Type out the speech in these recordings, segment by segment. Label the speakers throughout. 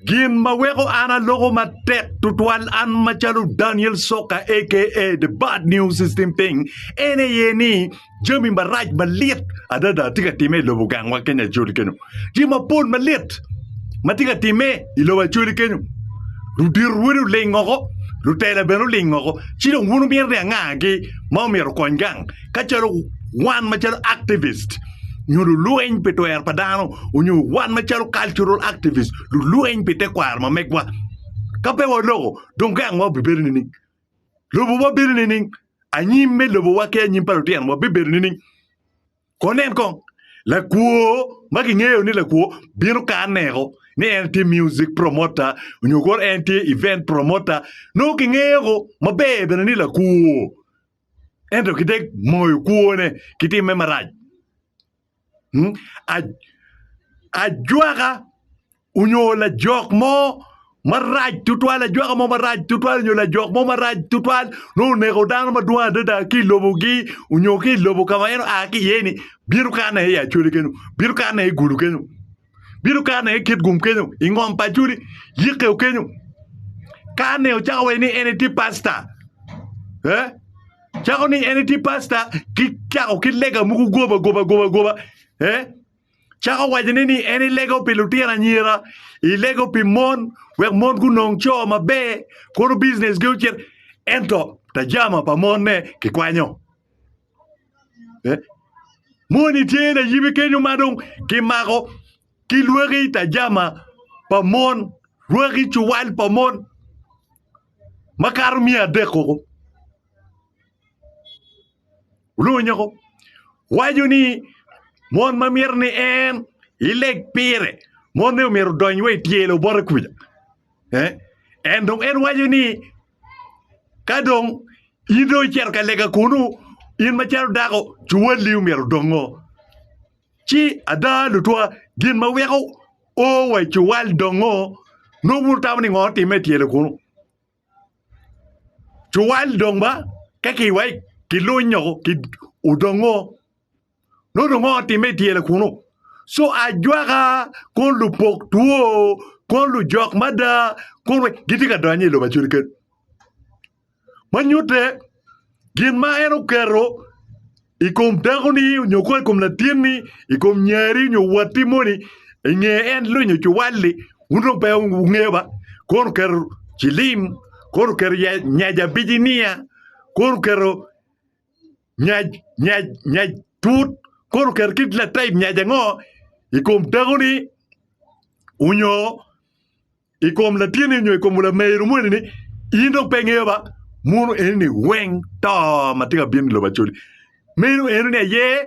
Speaker 1: Gin ma weko an aloko matek tutwal an macalo Daniel Soka aka The Bad News System Thing en aye ni jami marac malit adada tye ka timme i lobo gangwa Kenya Acholi kenyo. Tye mapol malit ma tye ka timme i lobo Acholi kenyo. Ludito wele oling oko, lutela bene oling oko. Ci dong wun wumito ni angagi ma omyero okony gang? ka calo wan macalo activist nyo lulweny pi twero pa dano onyo wan macalo cultural activist lulweny pi tekwaro ma megwa ka pe waloko dong gang wa obibedo nining? Lobo wa bedo nining? Anyim me lobo wa ki anyim pa lutino wa bibedo nining? Ko nen kong lakwo ma kingeyo ni lakwo bino ka aneko ni en tye music promoter onyo kor en tye event promoter nongo kingeyo ko maber bene ni lakwo ento ki te moyo kwone ki timme marac. Hmm? A- Ajwaka onyo lajok mo marac tutwal, ajwaka mo marac tutwal onyo lajok mo marac tutwal nongo oneko dano madwong adada ki i lobogi onyo ki i lobo ka ma en oa ki iye-ni, bino kanne i Acoli kenyo, bino kanne i Gulu kenyo. bino kane i kit gum kenyo i ngom pa Juli yike o kenyo kane ocako waci ni en etye pasta eh cako ni en etye pasta ki cako ki lega mogo goba goba goba goba eh cako waco ni ni en ilego pi lutino anyira ilego pi mon wek mon gunong co maber kono bizines gi ocit ento tajama pa monne kikwanyo eh? Moni tye layibe kenyo ma dong kimako ki lwaki tajama pa mon, lwaki cuwal pa mon makato miya adek koko. Olungo nyako waco ni mon ma mito ni en ileg pire, monne omyero odony wa i tyelo bote kuca. Eh? En dong en waco ni Ka dong in dong icito ka lega kunu, in macalo dako, cuwalli omyero odong ngo? Ci ada lutwa, gin ma weko o wa i cuwal dong ngo? Nongo wun wutamo ni ngo otimme i tyelo kunu? Cuwal dong ba ka ki wai ki lunyo ki odong ngo? nongo dong ongo timme i tyela kunu so ajwaka kon lupok two kon lujok mada kon gitye ka donyo i lobo acel kec ma nyutte gin ma en oketo i kom dakoni nyo kono i kom latinni i kom nyari nyo watti moni i nge en lony nyo cuwalli wun dong pe wungeyo ba kono oketo cilim kono oketo nya abici niya kono oketo Nyac, nyac, nyac tut. Kono oketo kit lataib nyac ango i kom dakoni onyo i kom latinni onyo i kom lameru moni ni in dong pe ingeyo ba muno eni ni weng to ma tye ka bino i lobo Acholi. Meno eno ni aye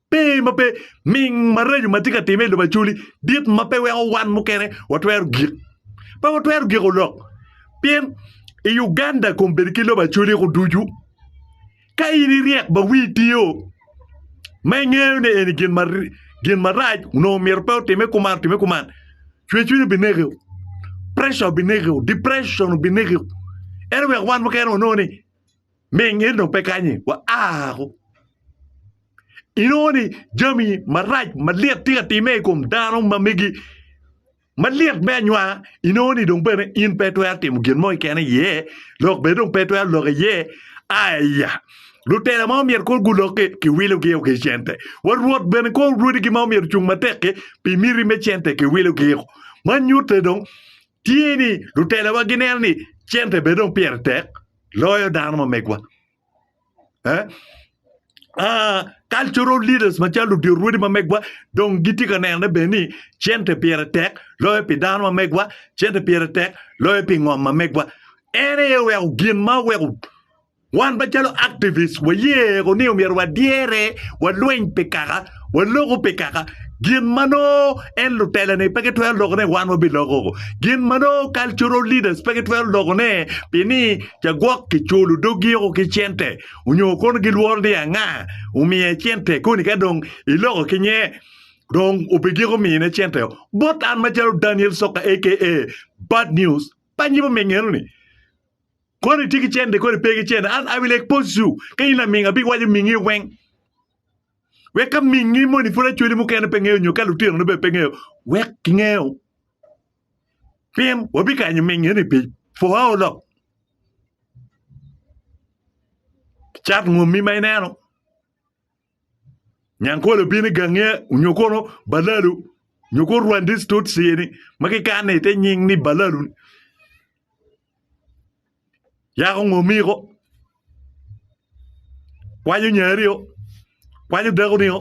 Speaker 1: Pe ma pe, ming maraco ma tye ka timme i lobo Acholi dit ma pe weko wan mukene watwero gik. Pe watwero giko lok. Pien i Uganda kom bedo ki lobo Acholi ko ducu. Ka in iryek ba wii tio, ma ingeyo ni eni gin ma gin marac onongo myero pe otimme kuman otimme kuman, cwercwiny obinekiu, pressure obinekiu, depression obinekiu. Ento wek wan mukene wanong ni. Me ngen dong pe kanye, waako. Inongo ni jami marac malyet tye ka timme i kom dano ma megi malyet me anywanga, inongo ni dong bene in pe itwero timo gin mo keken iye, lok bene dong pe itwero lok iye. Aya! Lutela ma omyero kong gulok-ki, kiwilogio ki cente. Wa Rwot bene kong rwodigi ma omyero ocung matek-ki pi miti me cente, kiwilogio. Ma nyutte dong, tye ni lutelowa gineno ni cente bene dong pire tek loyo dano ma megwa. Eh? Uh, cultural leaders macalo ludyot rwodi ma megwa dong gitye ka nenone bene ni cente pire tek loyo pi dano ma megwa, cente pire tek loyo pi ngom ma megwa. En aye oweko gin ma oweko Wan macalo activists wayeko ni omyero wadyere, walweny pi kaka, waloko pi kaka, gin ma nongo en lutelane pe gitwero lokone wan wabiloko, gin ma nongo cultural leaders pe gitwero lokone pi ni ca gwok kiculo doggi oko ki cente onyo kono gilworo ni anga omiye cente koni ka dong iloko ki nye dong obigiko mine cente o. Bot an macalo Daniel Soka aka Bad News, pannyi pa me ngeno ni Koni tye ki cente koni pe ki cente an I will expose you ka in laming abi waco mingi weng wek ka mingi moni pud achwali mukene pe ngeyo nyo ka lutino ni bene pe ngeyo wek gingeyo pien wabi kanyo mingi ni pi for how long cat ngomi ma ineno Nyankole obino i gange onyo kono balalu nyo kono rwandis tutsi ni ma kikane ite nying ni balalu yako ngo miko kwanyo nyari o kwanyo dako ni o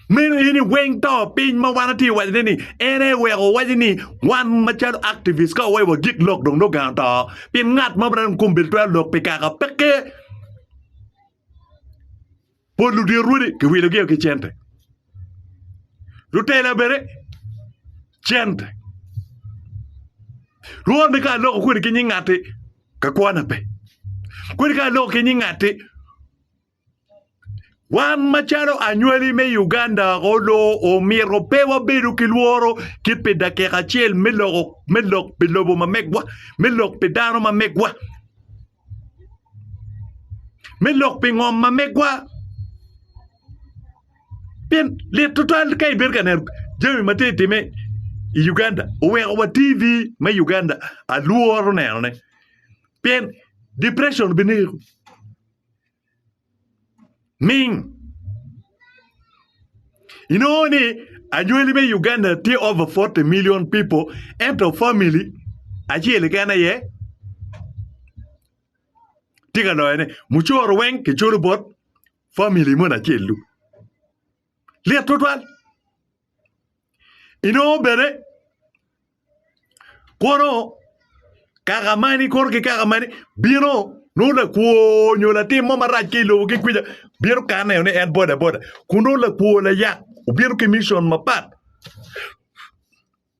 Speaker 1: meno eni weng to piny ma wan watye waco ne ni en aye weko wawaco ni wan macalo activist ka wawaco wa gik lok dong nongo gang oto pien ngat ma bene dong kome bene twero lok pi kaka peke. Pol ludito rwodi kiwilogi o ki cente. Lutela bene cente. Rwod ni ka aloko kodi ki nying ngati ka kwana pe. Kodi ka aloko ki nying ngati wan macalo anywali me Uganda oloo omito pe wabedo ki lworo ki pi dakika acel me loko me lok pi lobo ma megwa, me lok pi dano ma megwa. me lok pi ngom ma megwa pien lit tutwal ka ibedo ka neno jami ma tye ka timme i Uganda oweko wa TV me Uganda alworo nenone pien depression bineko. ming inongo ni anywali me Uganda tye over fourty million people ento family acel keken aye tye ka loyo ne mucoro weng kiculo bot family moni acel dong lit twatwal inongo bene Kono kaka mani kono ki kaka mani bino nongo lakwo nyo latim mo marac ki i lobo ki kwica bino ka neno ni en bodaboda kun nongo lakwo layak obino ki mission mapat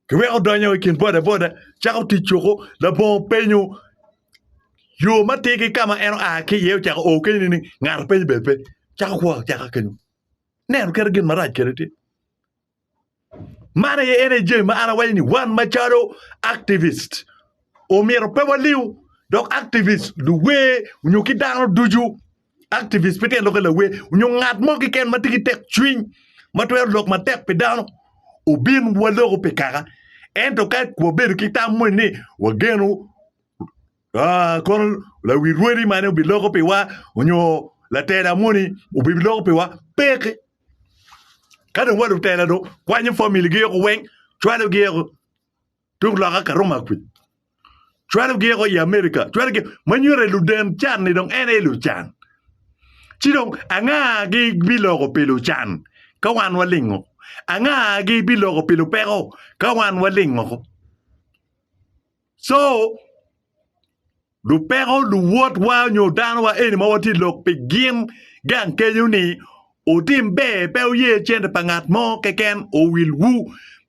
Speaker 1: kiweko odonyo i kin bodaboda cako tic coko labongo openyo yo ma tye ki ka ma en oa ki iye ocako o kenyo ni ngat openye bene pe cako kwor acaka kenyo neno kit gin marac kene tye. Man aye en aye jami ma an awaco ni wan macalo activist omyero pe waliw dok activist luwer nyo ki dano ducu activist pe tye ka lok ki lawer nyo ngat mo keken ma tye ki tekcwiny ma twero lok matek pi dano obin waloko pi kaka ento ka wabedo ki tam moni ni wageno Aa, kono lawi rwodi mane obiloko piwa onyo latela moni obiloko piwa? Peke. Ka dong wa lutela dong kwanyo famili gi eko weng, cwalo gi eko tung loka ka Roma kwi. Cwalo gi eko i America, cwalo gi ma nyuto luden can ni dong en aye lucan. Ci dong anga gi biloko pi lucan ka wan walingo? Anga gi biloko pi lupeko ka wan walingo? Co, lupeko, luwotwa nyo danowa eni ma watye i lok pi gin gang kenyo ni, Wutim ber, pe wuye cente pa ngat mo keken owilwu,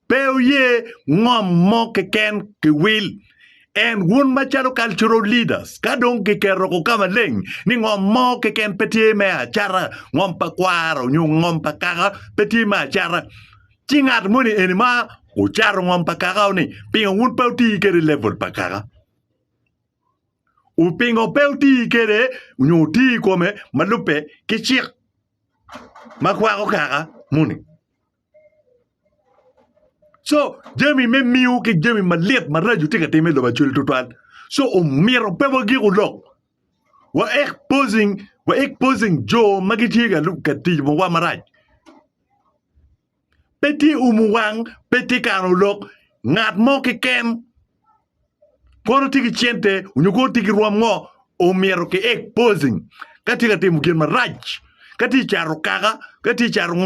Speaker 1: pe wuye ngom mo keken kiwil. En wun macalo cultural leaders ka dong kiketo ko ka maleng ni ngom mo keken pe tye me acata, ngom pa kwaro nyo ngom pa kaka pe tye me acata, Ci ngat moni eni ma ocato ngom pa kakao ni, pingo wun pe wutii kede level pa kaka? U pingo pe wutii kede nyo wutii i kome ma lubbe ki cik ma kwako kaka moni? So jami me miu ki jami malit maraco tye ka timme i lobo Acweli tutwal. So omyero pe wagiku lok Wa exposing, wa exposing jo ma gitye ka lu- ka tic wa marac. Pe tye umu wang, pe tye kano lok. Ngat mo keken kono tye ki cente onyo kono tye ki rwom ngo omyero ki exposing ka tye ka timo gin marac, ka tye cato kaka, ka tye cato ngo.